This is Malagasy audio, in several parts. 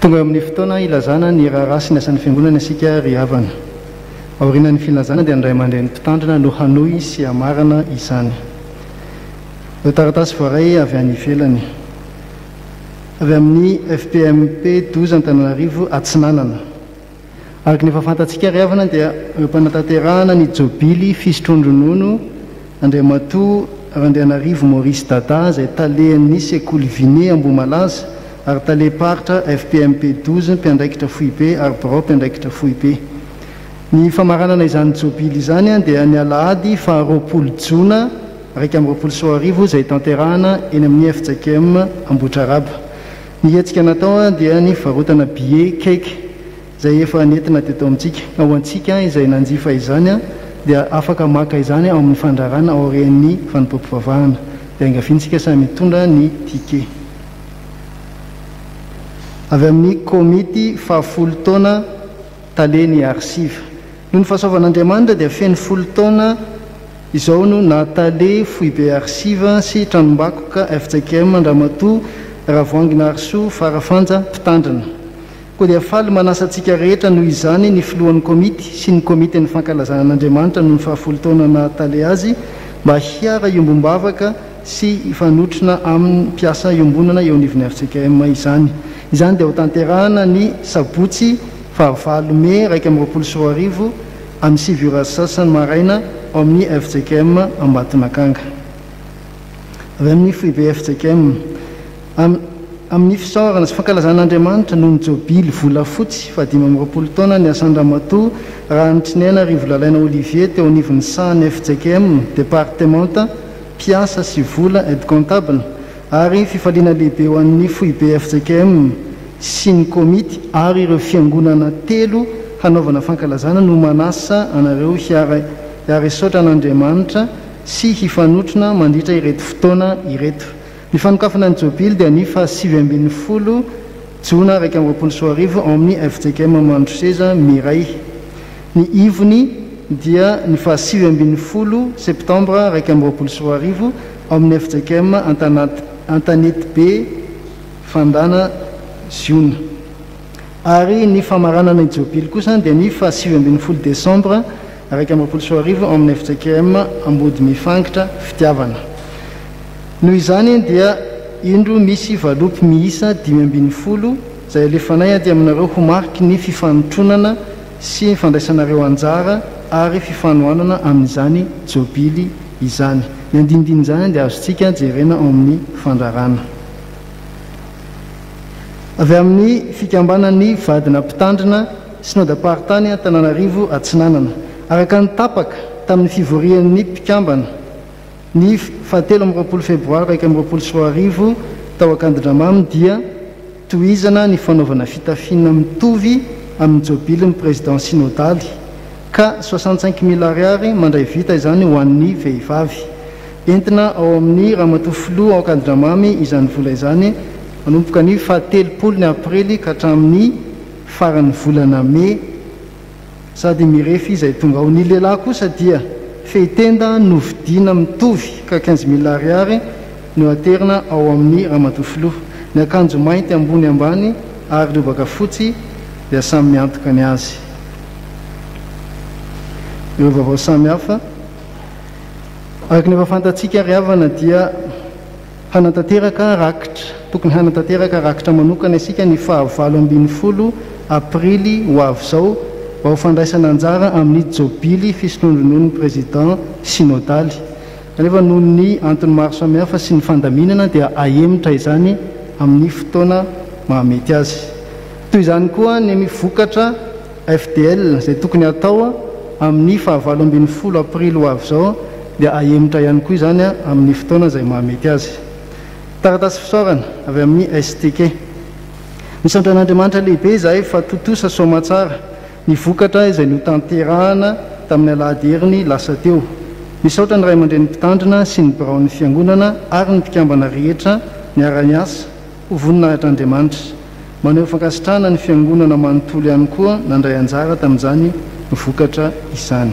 Tonga eo amin'ny fotoana ilazana ny raharaha sy ny asan'ny Fiangonana isika ry havana. Aorianan'ny filazana dia ny Ray aman-dReny Mpitandrina no hanohy sy hamarana izany. Ireo taratasy voaray avy any ivelany. Avy amin'ny FPMP Doza Antananarivo Atsinanana. Araka ny efa fantatsika ary havana dia ireo mpanatanterahana ny jobily fisotroan-dronono Andriamatoa Randrianarivo Maurice Dada izay talehan'ny sekoly Vinet Ambohimalaza ary talem-paritra FPMP douze mpiandraikitra foibe ary birao mpiandraikitra foibe. Ny famaranana izany jobily izany dia ny alahady faha roapolo jona iraika amby roapolo sy roa arivo izay tanterahana eny amin'ny FJKM Ambohitraraba. Ny hetsika natao dia ny fivarotana billets cake izay efa nentina teto amintsika. Ho antsika izay nanjifa izany dia afaka maka izany ao amin'ny fandrarana aorian'ny fanompoam-pivavahana. Dia angaviantsika samy hitondra ny ticket avy amin'ny komity fahafolo taona tale ny Arsiv. Noho ny fahasoavan'Andriamanitra dia feno folo taona izao no naha Tale foibe Arsiva sy Tranombakoka fjkm an-dRamatoa Ravoahangy Naharisoa Farafanja Mpitandrina. Koa dia faly manasa antsika rehetra noho izany ny Filohan'ny Komity sy ny Komitin'ny Fankalazana an'Andriamanitra noho ny fahafolo taona naha Tale azy mba hiara iombom-bavaka sy hifanotrona amin'ny mpiasa iombonana eo anivon'ny fjkm izany. Izany dia hotanterahana ny sabotsy Fahavalo Mey iraika amby roapolo sy roa arivo, amin'ny sivy ora sy sasany maraina, ao amin'ny fjkm Ambatonakanga. Avy amin'ny foibe fjkm, am, amin'ny fisaorana sy fankalazana Andriamanitra noho ny jobily volafotsy fahadimy amby roapolo taona niasan-dRamatoa Rahanitrinena Rivolalaina Olivier teo anivon'ny sahan'ny fjkm, departemanta, mpiasa sy vola, aide comptable, ary fifaliana lehibe ho an'ny foibe fjkm sy ny komity ary ireo fiangonana telo hanaovana fankalazana no manasa anareo hiara-hisaotra an'Andriamanitra sy hifanotrona mandritra ireto fotoana ireto. Ny fanokafana ny Jobily dia ny faha sivy ambin'ny folo jona iraika amby roapolo sy roa arivo ao amin'ny fjkm Mandroseza Mireille. Ny ivony dia ny faha sivy ambin'ny folo septambra iraika amby roapolo sy roa arivo ao amin'ny fjkm Antanetibe Fandana Ziona ary ny famaranana ny Jobily kosa dia ny faha sivy ambin'ny folo desambra iraika amby roapolo sy roa arivo ao amin'ny fjkm Ambodimifangitra Fitiavana. Noho izany dia indro misy valopy miisa dimy ambin'ny folo izay alefanay aty aminareo ho mariky ny fifanotronana sy fandraisanareo anjara ary fifanohanana amin'izany Jobily izany. Ny andinindin'izany dia azontsika jerena ao amin'ny fandrarana avy amin'ny Fikambanan'ny Vadina Mpitandrina Synodam-paritany Antananarivo Atsinanana, araka ny tapaka tamin'ny fivorian'ny mpikambana. Ny fahatelo amby roapolo febroary iraika amby roapolo sy roa arivo, tao Ankadindramamy dia tohizana ny fanaovana fitafiana mitovy amin'ny jobilin'ny Président Synodaly, ka soixante cinq mille Ariary mandray vita izany ho an'ny vehivavy. Entina ao amin'ny Ramatoa Filoha ao Ankadindramamy izany vola izany manomboka ny fahatelopolo ny Aprily ka hatramin'ny faran'ny volana May. Sady mirefy izay tonga ao Ny lehilahy kosa dia fehitenda novidiana mitovy ka quinze mille ariary no aterina ao amin'ny Ramatoa Filoha. Ny akanjo mainty ambony ambany ary lobaka fotsy dia samy miantoka ny azy. Ireo vaovao samihafa. Araka ny efa fantatsika ry havana dia. Hanatanteraka rakitra, Tokony hanatanteraka rakitra manokana isika ny faha valo ambin'ny folo aprily ho avy izao mba ho fandraisana anjara amin'ny jobily fisotroandronono ny President Synodaly. Kanefa noho ny antony maro samihafa sy ny fandaminana dia ahemotra izany amin'ny fotoana mahamety azy. Toy izany koa ny vokatra. FDL, izay tokony hatao amin'ny fahavalo ambin'ny folo aprily ho avy izao dia hahemotra ihany koa izany amin'ny fotoana izay mahamety azy. Taratasy fisaorana avy amin'ny STK. Misaotra an'Andriamanitra lehibe izahay fa tontosa soamatsara ny vokatra izay notanterahana tamin'ny alahady heriny lasa teo. Misaotra ny ray aman-dreny mpitandrina sy ny biraon'ny Fiangonana ary ny mpikambana rehetra niara-niasa. Ho voninahitr'Andriamanitra. Maneho fankasitrahana ny Fiangonana manontolo ihany koa nandray anjara tamin'izany vokatra izany.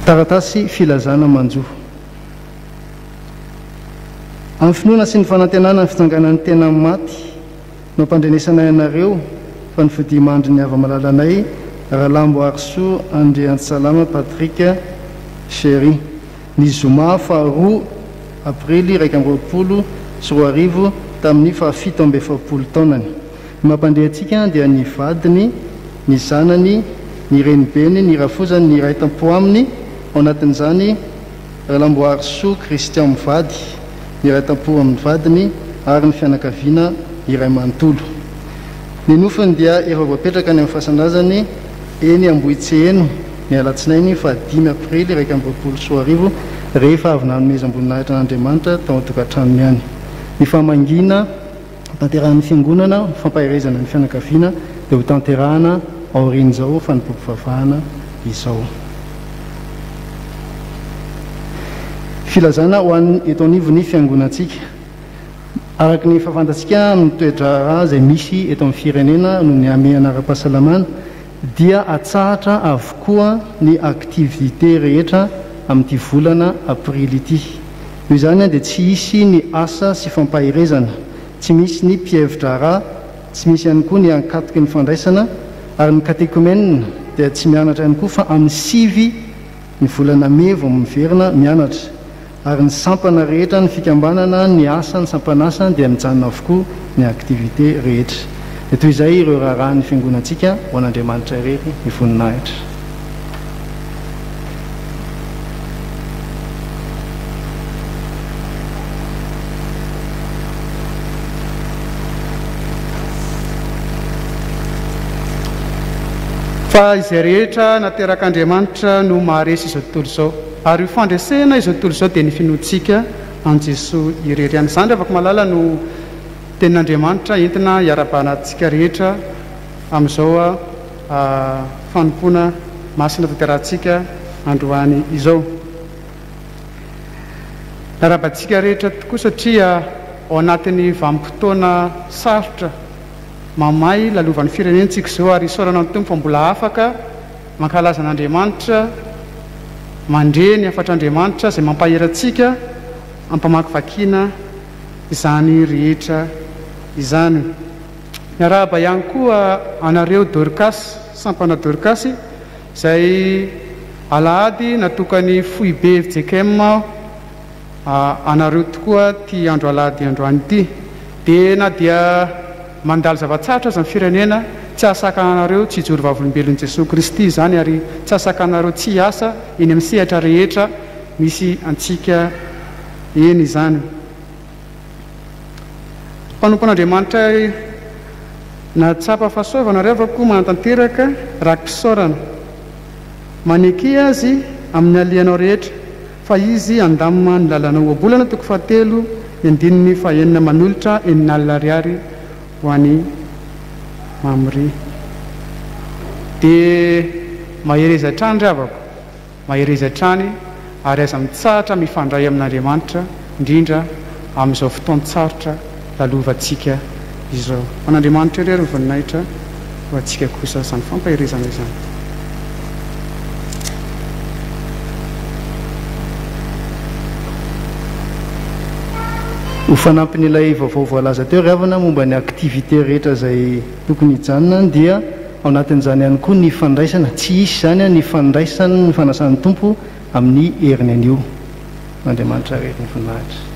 Taratasy filazana manjo. Amin'ny finoana sy ny fanantenana ny fitsanganan'ny tena amin'ny maty, Mampandrenesanay anareo fa ny fodiamandry ny hava-malalanay Ralamboarisoa Andriantsalama Patrick Chery, ny zoma faha roa aprily iraika amby roapolo sy roa arivo tamin'ny faha fito amby efapolo taonany. Ny mampandre antsika dia ny vadiny, ny zanany, ny renibeny, ny rafozany, ny iray tam-po aminy, ao anatin'izany, Ralamboarisoa Christian mivady, miray tampo amin'ny vadiny ary ny fianakaviana iray manontolo. Ny nofiny dia efa voapetraka any amin'ny fasan-drazany eny Ambohitseheno ny alatsinainy faha dimy aprily iraika amby roapolo sy roa arivo rehefa avy nanomezam-boninahitra an'Andriamanitra tao an-tokantranony any. Nifamangiana. Hotanterahan'ny Fiangonana ho fampaherezana ny fianakaviana dia hotanterahana aorian'izao fanompoam-pivavahana izao. Filazana ho an'ny eto anivon'ny Fiangonantsika. Araka ny efa fantatsika amin'ny toe-draharaha izay misy eto amin'ny firenena noho ny hamehana ara-pahasalamana, dia atsahatra avokoa ny activités rehetra amin'ity volana aprily ity. Noho izany dia tsy hisy ny asa sy fampaherezana, tsy misy ny mpihevi-draharaha, tsy misy ihany koa ny ankatoky ny fandraisana ary ny katekomenina dia tsy mianatra ihany koa fa amin'ny sivy ny volana mey vao miverina mianatra. ary ny sampana rehetra ny fikambanana ny asa ny sampan'asa dia mijanona avokoa ny activité rehetra dia toy izay ireo raharaha ny fiangonantsika ho an'Andriamanitra irery ny voninahitra fa izay rehetra naterak'Andriamanitra no maharesy izao tontolo izao Ary io fandresena izao tontolo izao dia ny finoantsika an'i Jesoa irery ihany. Izany ry havako malala no tenin'Andriamanitra entina hiarabahanantsika rehetra amin'izao fanompoana masina tanterahantsika androany izao. Miarahaba antsika rehetra tokoa satria ao anatin'ny vanim-potoana sarotra mamay lalovan'ny firenentsika izao ary isaorana ny Tompo fa mbola afaka Mankalaza an'Andriamanitra, mandre ny hafatr'Andriamanitra izay mampahery antsika ampamakivakiana izany rehetra izany. Miarahaba ihany koa anareo Dorcas, sampana Dorcas, izay alahady natokan'ny foibe fjkm aho. A anareo tokoa ity andro alahady androany ity dia na dia mandalo zava-tsarotra aza ny firenena tsy hahasakana anareo tsy hijoro vavolombelon'i Jesoa Kristy izany ary tsy hahasakana anareo tsy hiasa eny amin'ny sehatra rehetra misy antsika eny izany mpanompon'Andriamanitra ary nahatsapa fa soa vao nareo fa koa manatanteraka raki-pisaorana maneky Azy amin'ny alianao rehetra Fa izy handamina ny lalana ohabolana, toko fahatelo, ny andininy fahaenina, manolotra enina alina ariary ho an'i Mamre. Dia mahereza hatrany ry havako, mahereza hatrany, ary aza mitsahatra mifandray amin'Andriamanitra, indrindra amin'izao fotoan-tsarotra lalovantsika izao. Ho an'Andriamanitra irery ny voninahitra, ho antsika kosa izany fampaherezana izany. Ho fanampin'ilay vaovao voalaza teo ry havana momba ny activités rehetra izay tokony hijanona any dia ao anatin'izany ihany koa ny fandraisana, tsy hisy izany, ny fandraisan' ny fanasan'ny Tompo amin'ny heriny anio. Andriamanitra re ny voninahitra.